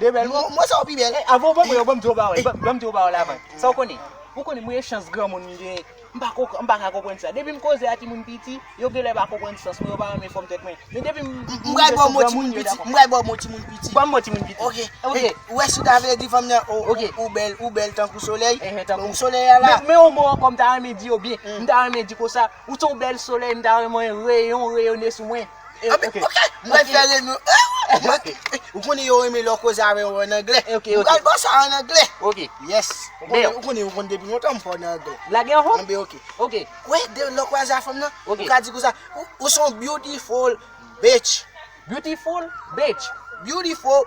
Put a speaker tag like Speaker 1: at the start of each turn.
Speaker 1: 2 bèl mo, mo sa yo pi
Speaker 2: bèl. Hey, avan w
Speaker 1: ban mwen yo, ban m di w yon
Speaker 2: bagay, ban m di w yon bagay avan. Sa w konnen? Ou konnen mwen gen chans granmoun m genyen, m pa ko, m pa ka konprann sa. Depi m koze a timoun piti, yo genlè pa konprann sans mwen, yo pa renmen fòm tèt mwen. Men depi m M pral ba w mo
Speaker 1: timoun piti, m pral ba w mo timoun piti. Ban m mo timoun piti. Ok,
Speaker 2: ok. Ou wè si w
Speaker 1: ta vle di fanm nan, o, ou bèl, ou bèl tankou solèy. Ehe, tankou. Tankou solèy a la. Men yon mo ankò m ta
Speaker 2: renmen di yo byen. M ta renmen di konsa, ou se yon bèl solèy, m ta renmen reyon w reyone sou mwen. Anpi, ok,
Speaker 1: m pral fè renmen w eh wouy! Ok, ou konnen yo renmen lè w koze avè yo an anglè. Ok, ok. M pral ba w sa an
Speaker 2: anglè.
Speaker 1: Ok. Yes.
Speaker 2: Ou konnen,
Speaker 1: ou konnen, ou konnen depi lontan m fò w nan anglè. Lage yon ho? Anben ok.
Speaker 2: Ok. Wè,
Speaker 1: de
Speaker 2: lè w kwaze
Speaker 1: a fanm nan, Ok. ou ka di konsa, ou, ou s on beautiful bitch. Beautiful
Speaker 2: bitch. Beautiful